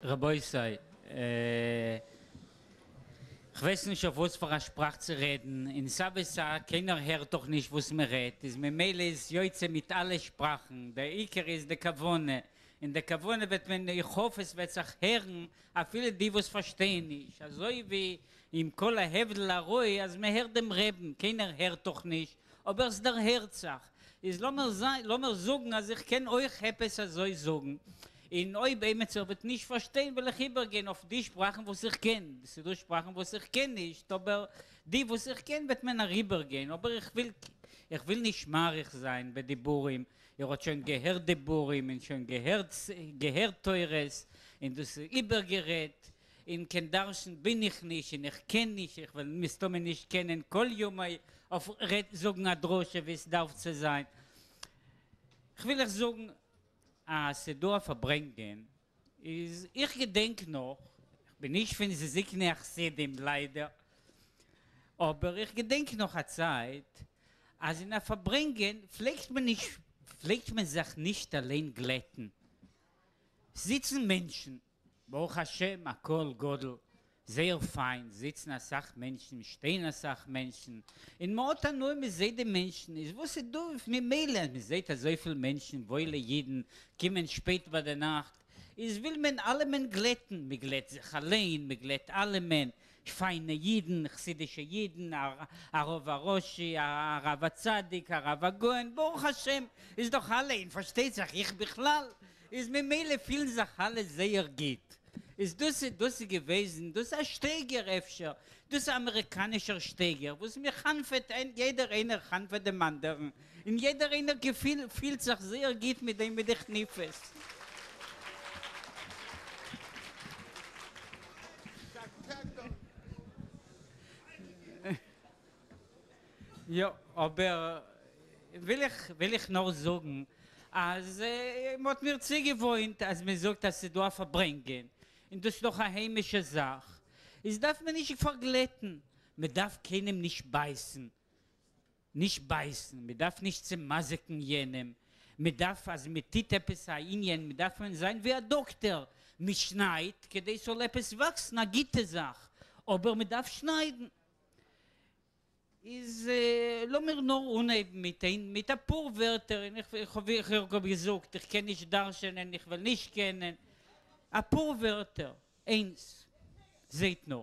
רבותי, כ'ווייס נישט אויף וואס פאר א שפראך צו רעדן, און סא וסא, קיינער הערט דאך נישט וואס מען רעדט, איז ממילא איז יוצא מיט אלע שפראכן, דער עיקר איז די כוונה, און די כוונה וועט מען, איך האף עס וועט זיך הערן, אפילו די וואס פארשטייען נישט, אזוי ווי עם כל ההבדל הראי' אז מען הערט דעם רעבן, קיינער הערט דאך נישט, אבער סדערהערט זיך, איז לאמער זיין לאמער זאגן אז איך קען אויך עפעס אזוי זאגן, און אויב עימיצער וועט נישט פארשטיין וועל איך איבערגיין אויף די שפראכן וואס איך קען, ס'דא שפראכן וואס איך קען נישט, אבער די וואס איך קען וועט מען אריבערגיין, אבער איך וויל איך וויל נישט מאריך זיין בדיבורים, איר האט שוין געהערט דיבורים און שוין געהערט געהערט תורות און דאס איבערגערעדט, און קיין דרשן בין איך נישט און איך קען נישט, איך וועל מסתמא נישט קענען כל ימיי אויף זאגן א דרשה ווי עס דארף צו זיין. כ'וויל אייך זאגן אז ס'איז דא א פארברענגען, איז איך געדענק נאך, כ'בין נישט פון זקני החסידים ליידער, אבער איך געדענק נאך א צייט אז אין א פארברענגען פלעגט מען נישט פלעגט מען זיך נישט אליין גלעטן, זיצן מענטשן ברוך השם הכל גדול, זייער פיין, זיצן אסאך מענטשן, שטיין אסאך מענטשן, און מען האט הנאה מען זעט די מענטשן, איז וואס איז דא ממילא אז מען זעט אזויפיל מענטשן וואוילע אידן קומען שפעט ביי די נאכט, איז וויל מען אלעמען גלעטן, מען גלעט זיך אליין, מען גלעט אלעמען, פיינע אידן, חסידישע אידן, הרב הראשי, הרב הצדיק, הרב הגאון, ברוך השם איז דאך אלע אין פארשטייט זיך איך בכלל, איז ממילא פילן זיך אלע זייער גוט, איז דאס דאס איז געוועזן דאס א שטייגער אפשר, דאס אמעריקאנישער שטייגער וואס מען חנפ'עט איין יעדער איינער חנפ'עט דעם אנדערן, און יעדער איינער געפיל פילט זיך זייער גוט מיט דעם מיט די כניפות. יא, אבער וויל איך וויל איך נאר זאגן אז מען האט מיר צוגעוואוינט אז מען זאגט אז ס'איז דא א פארברענגען און דאס איז דאך א היימישע זאך איז דארף מען נישט פארגלעטן, מען דארף קיינעם נישט בייסן. נישט בייסן, מען דארף נישט צעמזיקן יענעם, מען דארף אז מען טוט עפעס א ענין מען דארף מען זיין ווי א דאקטער, מען שניידט כדי ס'זאל עפעס וואקסן א גוטע זאך, אבער מען דארף שניידן. איז לאמיר נאר אנהייבן מיט איין מיט אפאר ווערטער, און איך איך ווי איך האב געזאגט איך קען נישט דרש'ענען איך וועל נישט קענען, אפאר ווערטער, איינס, זעהט נאר.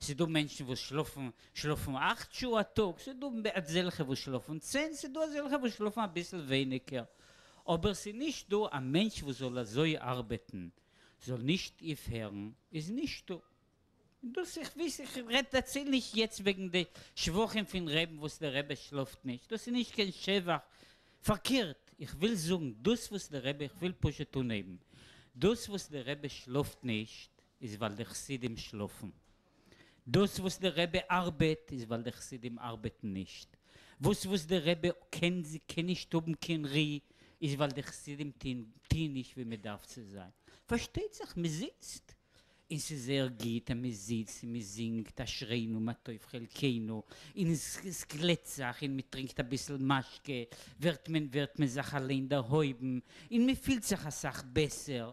ס'איז דא מענטשן וואס שלאפן שלאפן אַכט שעה א טאג, ס'איז דא אזעלכע וואס שלאפן צען, ס'איז דא אזעלכע וואס שלאפן אביסל ווייניגער, אבער ס'איז נישט דא א מענטש וואס זאל אזוי ארבעטן זאל נישט אויפהערן, איז נישטא. און דאס איך וויס, איך רעד דעציל נישט יעצט וועגן די שבחים פון רעבן וואס דער רבי שלאפט נישט, דאס איז נישט קיין שבח, פארקערט, איך וויל זאגן דאס וואס דער רבי, איך וויל פשוט אנהייבן, דאס וואס דער רבי שלאפט נישט, איז ווייל די חסידים שלאפן. דאס וואס די רבי ארבעט איז ווייל די חסידים ארבעטן נישט. וואס וואס די רבי קען קען נישט האבן קיין רי איז ווייל די חסידים טוהן טוהן נישט ווי מען דארף צו זיין. פארשטייט זיך מען זיצט און ס'איז זייער גוט אז מען זיצט און מען זינגט אשרינו מה טוב חלקינו און עס גלעט זיך און מען טרינקט אביסל משקה ווערט מען ווערט מען זיך אליין דערהויבן און מען פילט זיך אסאך בעסער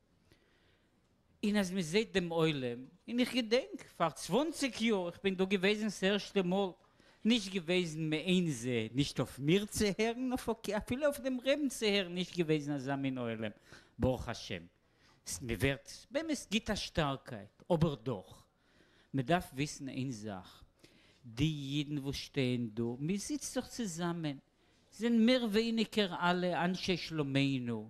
און אז מען זעט דעם עולם, און איך געדענק פאר צוואנציג יאר איך בין דא געוועזן ס'ערשטע מאל, נישט געוועזן מעין זה נישט אויף מיר צו הערן אויף אקעי אפילו אויף דעם רעבן צו הערן נישט געוועזן אזא מין עולם ברוך השם ס מען ווערט באמת גיט א שטארקייט אבער דאך מען דארף וויסן איין זאך די אידן וואס שטייען דא מען זיצט זיך צוזאמען זענען מער ווייניגער אלע אנשי שלומינו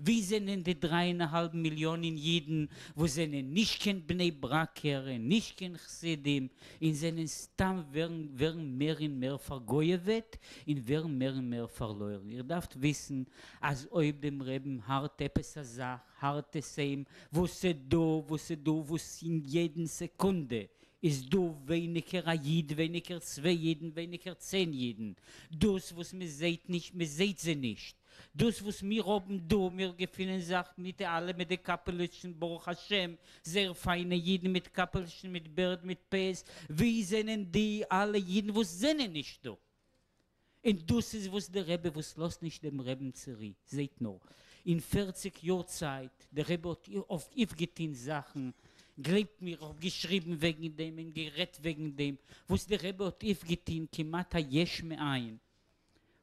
ווי זענען די דריי און א האלב מיליאנען אידן וואס זענען נישט קיין בני ברק'ער און נישט קיין חסידים און זענען סתם ווערן ווערן מער און מער פארגויעוועט און ווערן מער און מער פארלוירן איר דארפט וויסן אז אויב דעם רעבן הארט עפעס א זאך הארט עס אים וואס ס'דא וואס ס'דא וואס אין יעדן סעקונדע איז דא ווייניגער א איד ווייניגער צוויי אידן ווייניגער צען אידן דאס וואס מ'זעהט נישט מ'זעהט זיי נישט. דאס וואס מיר האבן דא, מיר געפינען זיך מיט אלע מיט די קאפעלעטשן ברוך השם, זייער פיינע אידן מיט קאפעלעטשן מיט בערד מיט פאות, ווי זענען די אלע אידן וואס זענען נישט דא? און דאס איז וואס די רבי וואס לאזט נישט דעם רעבן צו רי, זעט נאר, אין פֿערציק יאר צייט, די רבי האט אויפגעטוהן זאכן, גלייבט מיר איך האב געשריבן וועגן דעם און גערעדט וועגן דעם, וואס די רבי האט אויפגעטוהן כמעט א יש מאין,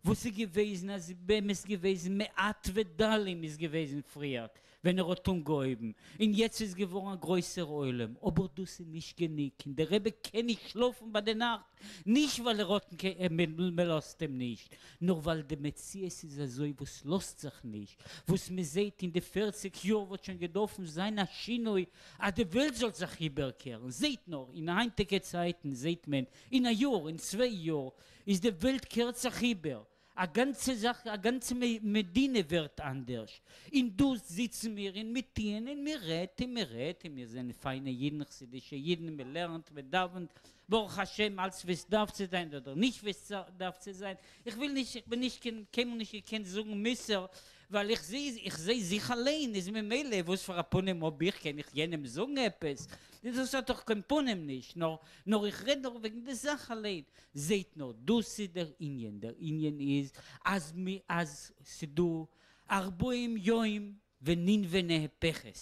וואס איז געוועזן אז באמת געוועזן מעט ודלים איז געוועזן פריער ווען ער האט אנגעהויבן און יעצט איז געווארן א גרויסער עולם אבער דאס איז נישט גענוג און די רבי קען נישט שלאפן ביי די נאכט נישט ווייל ער האט מען לאזט אים נישט נאר ווייל די מציאות איז אזוי וואס לאזט זיך נישט וואס מען זעט אין די פערציג יאר וואלט שוין געדארפן זיין א שינוי אז די וועלט זאל זיך איבערקערן זעט נאר אין היינטיגע צייטן זעט מען אין א יאר אין צוויי יאר איז די וועלט קערט זיך איבער, א גאנצע זאך, א גאנצע מדינה ווערט אנדערש, און דא זיצן מיר און מיר טוען און מען רעדט און מען רעדט און מיר זענען פיינע אידן חסידישע אידן מען לערנט מען דאווענט ברוך השם אלץ ווי עס דארף צו זיין אדער נישט ווי עס דארף צו זיין, איך וויל נישט איך בין נישט קיין קיינמאל נישט געקענט זאגן מוסר ווייל איך זעה איך זעה זיך אליין איז ממילא וואס פאר א פנים האב איך קען איך יענעם זאגן עפעס דאס האט דאך קיין פנים נישט נאר איך רעד נאר וועגן די זאך אליין. זעהט נאר, דאס איז דער ענין, דער ענין איז אז אז ס'דא ארבעים יום וננבה נהפכת,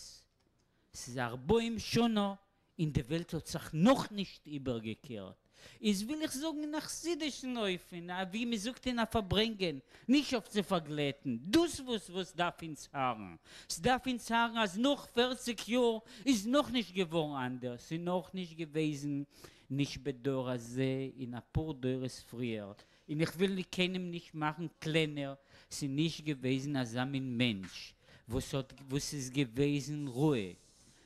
ס'איז ארבעים שנה און די וועלט האט זיך נאכנישט איבערגעקערט, איז וויל איך זאגן אין א חסידישן אופן, ווי מ'זאגט אין א פארברענגען, נישט אויף צו פארגלעטן, דאס וואס וואס דארף אונז הארן, ס'דארף אונז הארן אז נאך פערציג יאר איז נאכנישט געווארן אנדערש, ס'איז נאכנישט געוועזן נישט בדור הזה אין אפאר דורות פריער, אין איך וויל נישט קיינעם נישט מאכן קלענער, ס'נישט געוועזן אזא מין מענטש וואס האט וואס איז געוועזן רואה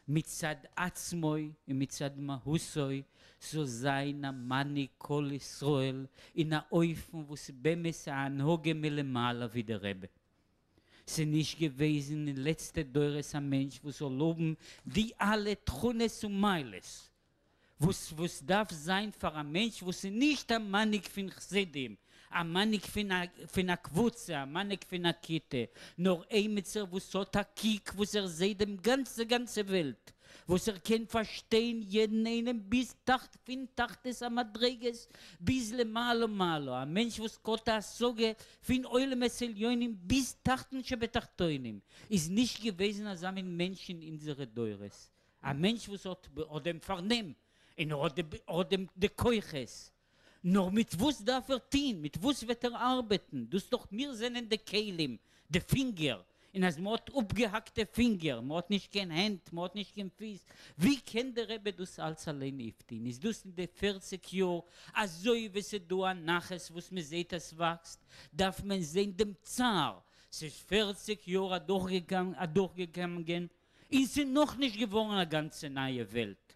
מצד עצמו אין מצד מהותו זאל זיין א מנהיג כל ישראל אין א אופן וואס איז באמת א הנהגה מלמעלה ווי די רבי, ס'נישט געוועזן אין לעצטע דורות א מענטש וואס זאל האבן די אלע תכונות און מעלות וואס וואס דארף זיין פאר א מענטש וואס איז נישט א מנהיג פין חסידים, א מנהיג פין א קבוצה, א מנהיג פין א כיתה, נאר עימיצער וואס האט א קוק וואס ער זעהט דעם גאנצע גאנצע וועלט, וואס ער קען פארשטיין יעדן איינעם ביז תחת פין תחתית המדריגות ביז למעלה מעלה, א מענטש וואס כהאט א השגה פין עולמות עליונים ביז תחתון שבתחתונים, איז נישט געוועזן אזא מין מענטש אין אינזערע דורות. א מענטש וואס האט ב ה דעם פארנעם און ער האט ב ה דעם די כוחות, נאר מיט וואס דארף ער טוהן? מיט וואס וועט ער ארבעטן? דאס דאך מיר זענען די כלים, די פינגער, און אז מען האט אפגעהאקטע פינגער, מען האט נישט קיין הענט, מען האט נישט קיין פיס, ווי קען די רבי דאס אלץ אליין אויפטוהן? איז דאס אין די פֿערציק יאר, אזוי ווי ס'איז דא א נחת וואס מען זעהט אז ס'וואקסט, דארף מען זעהן דעם צער, ס'איז פֿערציק יאר אדורכגעגאנגען, און ס'איז נאך נישט געווארן א גאנצע נייע וועלט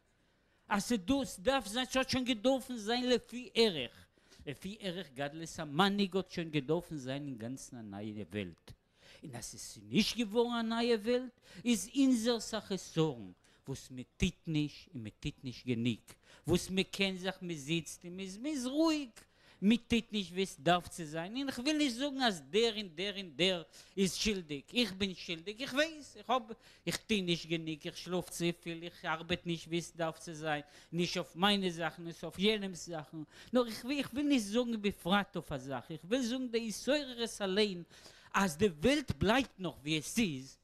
אז ס'דאס דארף זיין, ס'האט שוין געדארפן זיין לפי ערך, לפי ערך גדלות המנהיג האט שוין געדארפן זיין אינגאנצן א נייע וועלט, און אז ס'איז נישט געווארן א נייע וועלט איז אונזערס א חסרון וואס מ'טוט נישט און מ'טוט נישט גענוג, וואס מ'קען זיך מ'זיצט און מ'איז רואיג מען טוט נישט ווי עס דארף צו זיין, און איך וויל נישט זאגן אז דער און דער און דער איז שולדיג, איך בין שולדיג, איך ווייס, איך האב, איך טו נישט גענוג, איך שלאף צופיל, איך ארבעט נישט ווי עס דארף צו זיין, נישט אויף מיינע זאכן, נישט אויף יענעמ'ס זאכן, נאר איך וויל, איך וויל נישט זאגן בפרט אויף א זאך, איך וויל זאגן די התעוררות אליין, אז די וועלט בלייבט נאך ווי עס איז,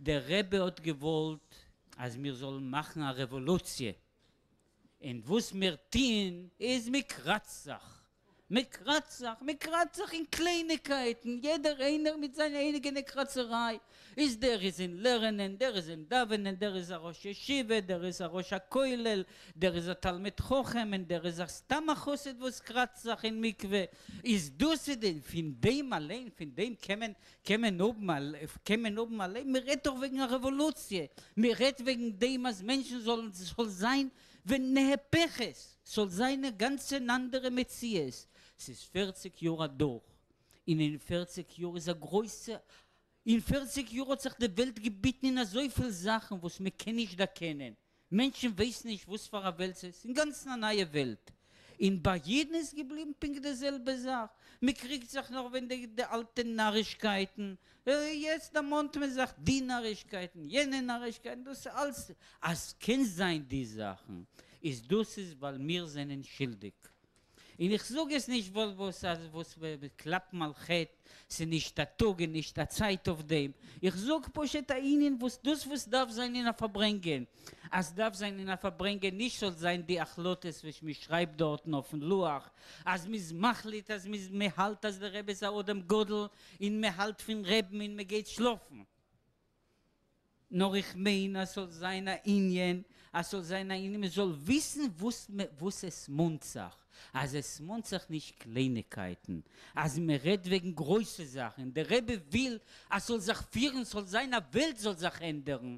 דער רבי האט געוואלט אז מיר זאלן מאכן א רעוואלוציע, און וואס מיר טוען איז מען קראצט זיך, מען קראצט זיך, מען קראצט זיך אין קלייניגקייטן, יעדער איינער מיט זיין אייגענע קראצעריי, איז דער איז אין לערנען, דער איז אין דאווענען, דער איז א ראש ישיבה, דער איז א ראש הכולל, דער איז א תלמיד חכם און דער איז א סתם א חסיד וואס קראצט זיך אין מקווה, איז דאס איז דען פון דעם אליין פון דעם קען מען קען מען האבן א, קען מען האבן א לעבן? מ'רעדט דאך וועגן א רעוואלוציע, מ'רעדט וועגן דעם אז מענטשן זאלן, ס'זאל זיין ונהפכת, ס'זאל זיין א גאנץ אן אנדערע מציאות. ס'איז פערציג יאר אדורך, און אין פערציג יאר איז א גרויסע, אין פערציג יאר האט זיך די וועלט געביטן אין אזויפיל זאכן וואס מ'קען נישט דערקענען, מענטשן ווייסן נישט וואס פאר א וועלט ס'איז, אינגאנצן א נייע וועלט, און ביי יעדן איז געבליבן פונקט די זעלבע זאך, מ'קריגט זיך נאך וועגן די די אלטע נארישקייטן, יעצט דערמאנט מען זיך די נארישקייטן, יענע נארישקייטן, דאס איז אלס, אז ס'קען זיין די זאכן, איז דאס איז ווייל מיר זענען שולדיג, און איך זאג עס נישט ווייל וואס אז וואס קלאפן על חטא, ס'איז נישט א טאג און נישט א צייט אויף דעם, איך זאג פשוט א ענין וואס דאס וואס דארף זיין אין א פארברענגען, אז דארף זיין אין א פארברענגען נישט זאל זיין די החלטות וואס מען שרייבט דארטן אויפן לוח, אז מען איז מחליט אז מען מען האלט אז די רבי איז א אדם גדול און מען האלט פון רעבן און מען גייט שלאפן. נאר איך מיין אז ס'זאל זיין א ענין, אז ס'זאל זיין א ענין מ'זאל וויסן וואס מ וואס עס מאנט זיך, אז עס מאנט זיך נישט קלייניגקייטן, אז מ'רעדט וועגן גרויסע זאכן, און דער רבי וויל אז ס'זאל זיך פירן, ס'זאל זיין א וועלט זאל זיך ענדערן,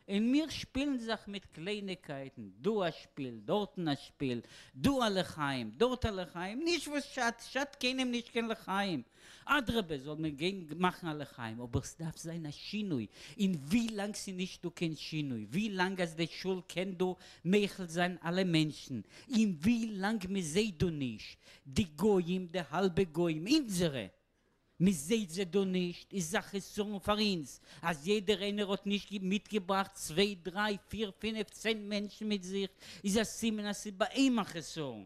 און מיר שפילן זיך מיט קלייניגקייטן, דא א שפיל, דארטן א שפיל, דא א לחיים, דארט א לחיים, נישט וואס שאדט, שאדט קיינעם נישט קיין לחיים, אדרבה זאל מען גיין מאכן א לחיים אבער סדארף זיין א שינוי אין ווי לאנג סנישט דא קיין שינוי ווי לאנג אז די שול קען דא מעכל זיין אלע מענטשן אין ווי לאנג מזעהט דא נישט די גוים די האלבע גוים אינזערע מזעהט זיי דא נישט איז א חסרון פאר אינז אז יעדער איינער האט נישט מיטגעבראכט צוויי דריי פיר פינעף צען מענטשן מיט זיך איז א סימן אז סאיז ביי אים א חסרון.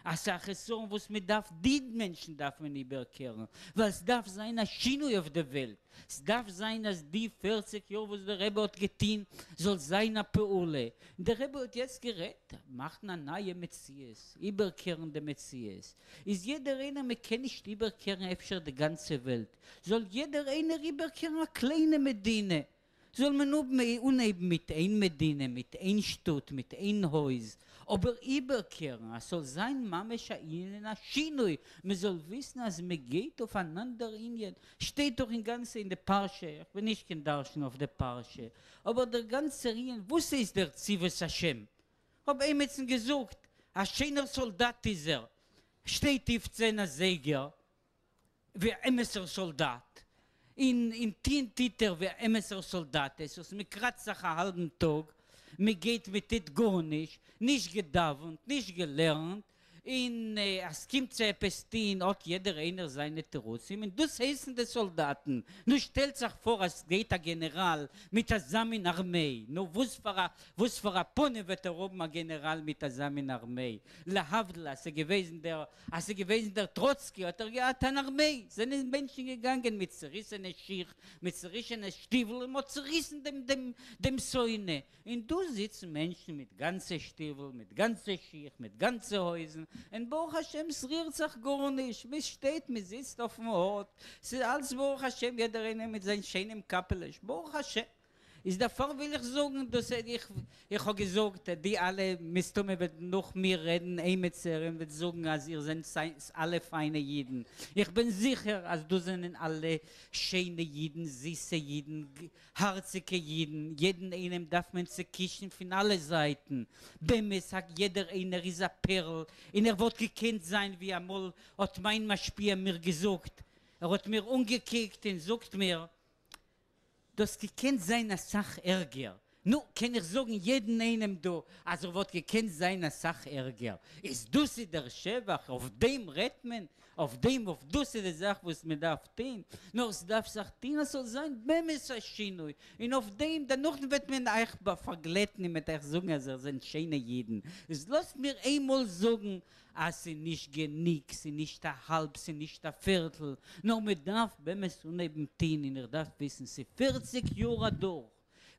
אסאך חסרון וואס מען דארף דין מענטשן דארף מען איבערקערן ווייל סדארף זיין א שינוי אויף די וועלט, סדארף זיין אז די פֿערציק יאר וואס די רבי האט געטוהן זאל זיין א פעולה, די רבי האט יעצט גערעדט מאכן א נייע מציאות, איבערקערן די מציאות, איז יעדער איינער מען קען נישט איבערקערן אפשר די גאנצע וועלט, זאל יעדער איינער איבערקערן א קליינע מדינה, זאל מען האבן אנהייבן מיט איין מדינה מיט איין שטאט מיט איין הויז אבער איבערקערן אז ס'זאל זיין ממש א ענין אין א שינוי מען זאל וויסן אז מען גייט אויף אן אנדער ענין שטייט דאך אינגאנצען אין די פרשה איך בין נישט קיין דרשן אויף די פרשה אבער דער גאנצער ענין וואס הייסט דער צבאות השם כ'האב עימיצן געזאגט א שיינער סאלדאט איז ער שטייט אויף צען אזייגער ווי א אמת'ער סאלדאט, און און טוהן טוהט ער ווי א אמת'ער סאלדאט, עס איז מען קראצט זיך א האלבן טאג, מען גייט מען טוהט גארנישט, נישט געדאווענט, נישט געלערנט, און אז סקומט צו עפעס טוהן האט יעדער איינער זיינע תירוצים, און דאס הייסן די סאלדאטן, נו שטעלט זיך פאר אז סגייט א גענעראל מיט אזא מין ארמעי, נו וואס פאר א וואס פאר א פנים וועט ער האבן א גענעראל מיט אזא מין ארמעי, להבדל אז סגעוועזן דער אז ס'איז געוועזן דער טראצקי האט ער געהאט אן ארמעי, זענען מענטשן געגאנגען מיט צוריסענע שיך, מיט צורישענע שטיוול און מ'האט צוריסן דעם דעם דעם שונא, און דא זיצן מענטשן מיט גאנצע שטיוול, מיט גאנצע שיך, מיט גאנצע הויזן, און ברוך השם ס'רירט זיך גארנישט, מ'שטייט מ'זיצט אויפן הוט, ס'איז אלס ברוך השם יעדער איינער מיט זיין שיינעם קאפעלעש ברוך השם, איז דערפאר וויל איך זאגן דאס איך איך האב געזאגט די אלע מסתמא וועט נאך מיר רעדן עימיצער און וועט זאגן אז איר זענט סייס אלע פיינע אידן איך בין זיכער אז דאס זענען אלע שיינע אידן זיסע אידן הארציגע אידן יעדן איינעם דארף מען צעקישן פון אלע זייטן באמת א יעדער איינער איז א פערל און ער וואלט געקענט זיין ווי אמאל האט מיין משפיע מיר געזאגט ער האט מיר אנגעקוקט און זאגט מיר דאס געקענט זיין אסאך ערגער. נו, קען איך זאגן יעדן איינעם דא אז ער וואלט געקענט זיין אסאך ערגער? איז דאס איז דער שבח? אויף דעם רעדט מען? אויף דעם? אויף דאס איז די זאך וואס מען דארף טוהן? נאר עס דארף זיך טוהן אז ס'זאל זיין באמת א שינוי, און אויף דעם דערנאך וועט מען אייך פארגלעטן און מ'עט אייך זאגן אז איר זענט שיינע אידן. איז לאזט מיר איינמאל זאגן אז ס'איז נישט גענוג, ס'איז נישט א האלב, ס'איז נישט א פערטל, נאר מ'דארף באמת אנהייבן טוהן, און איך דארף וויסן, ס'איז פערציג יאר אדורך,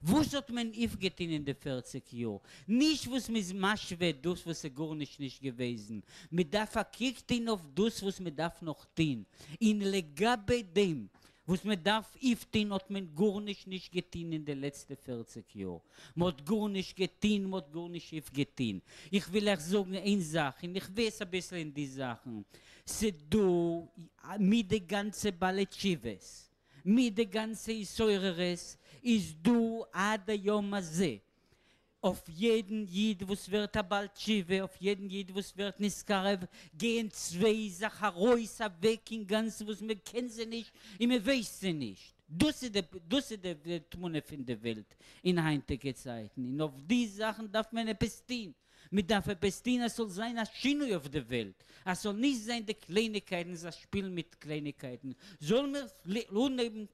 וואס האט מען אויפגעטוהן אין די פערציג יאר? נישט וואס מ'איז משווה דאס וואס איז גארנישט נישט געוועזן, מ'דארף א קוק טוהן אויף דאס וואס מ'דארף נאך טוהן, און לגבי דעם וואס מען דארף איפטון האט מען גארנישט נישט געטון אין די לעצטע פערציג יאר, מען האט גארנישט געטון, מען האט גארנישט איפגעטון. איך וויל אייך זאגן איין זאך, און איך ווייס אביסל אין די זאכן, ס'דא מיט די גאנצע בעלי תשובות, מיט די גאנצע התעוררות, איז דא עד היום הזה, אויף יעדן איד וואס ווערט א בעל תשובה, אויף יעדן איד וואס ווערט נשכר, גייען צוויי זאך ארויס אוועק אינגאנצן וואס מען קען זיי נישט און מען ווייסט זיי נישט. דאס איז דאס איז די תמונה פון די וועלט אין היינטיגע צייטן, און אויף די זאכן דארף מען עפעס טון, מען דארף עפעס טון אז ס'זאל זיין א שינוי אויף די וועלט, אז ס'זאל נישט זיין די קלייניגקייטן, זיך שפילן מיט קלייניגקייטן, זאל מען אנהייבן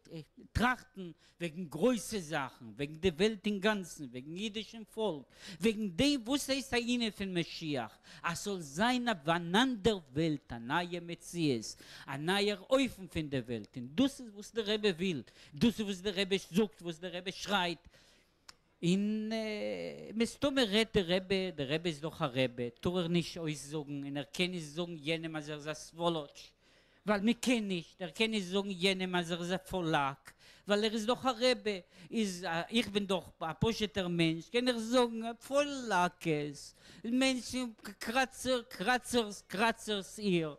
טראכטן וועגן גרויסע זאכן, וועגן די וועלט אינגאנצן, וועגן אידישן פאלק, וועגן דעם וואס הייסט א ענין פון משיח, אז ס'זאל זיין אויף אן אנדער וועלט, א נייע מציאות, א נייער אופן פון די וועלט, און דאס איז וואס די רבי וויל, דאס איז וואס די רבי זאגט, וואס די רבי שרייט, און מסתמא רעדט די רבי, די רבי איז דאך א רבי, טאר ער נישט אויסזאגן און ער קען נישט זאגן יענעם אז ער איז א סוואלאטש ווייל מען קען נישט, ער קען נישט זאגן יענעם אז ער איז א פאלאק ווייל ער איז דאך א רבי, איז איך בין דאך א פשוט'ער מענטש קען איך זאגן פאלאקעס, מענטשן קראצער קראצערס קראצערס איר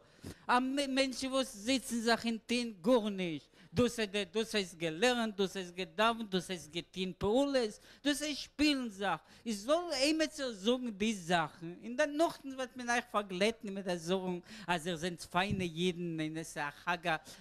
א מענטש וואס זיצן זיך און טוהן גארנישט, דאס דאס הייסט געלערנט, דאס הייסט געדאווענט, דאס הייסט געטוהן פעולות, דאס הייסט שפילן זיך, איך זאל עימיצער זאגן די זאכן, און דער נאכדעם וועט מען אייך פארגלעטן מיט די זאגן אז איר זענט פיינע אידן און עס איז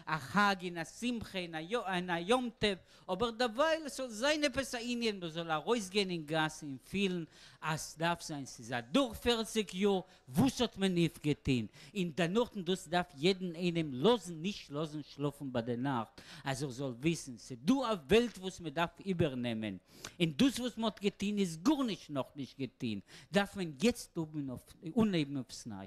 א חג און א שמחה און א יום טוב, אבער דערווייל עס זאל זיין עפעס א ענין מען זאל ארויסגיין אין גאס און פילן אז דארף זיין, ס'איז אדורך פערציג יאר וואס האט מען אויף געטוהן אין די נאכטן דאס דארף יעדן איינעם לאזן נישט לאזן שלאפן ביי די נאכט אז ער זאל וויסן ס'דא א וועלט וואס מען דארף איבער נעמען אין דאס וואס מען האט געטוהן איז גארנישט נאך נישט געטוהן דארף מען יעצט אנהייבן אויפסניי.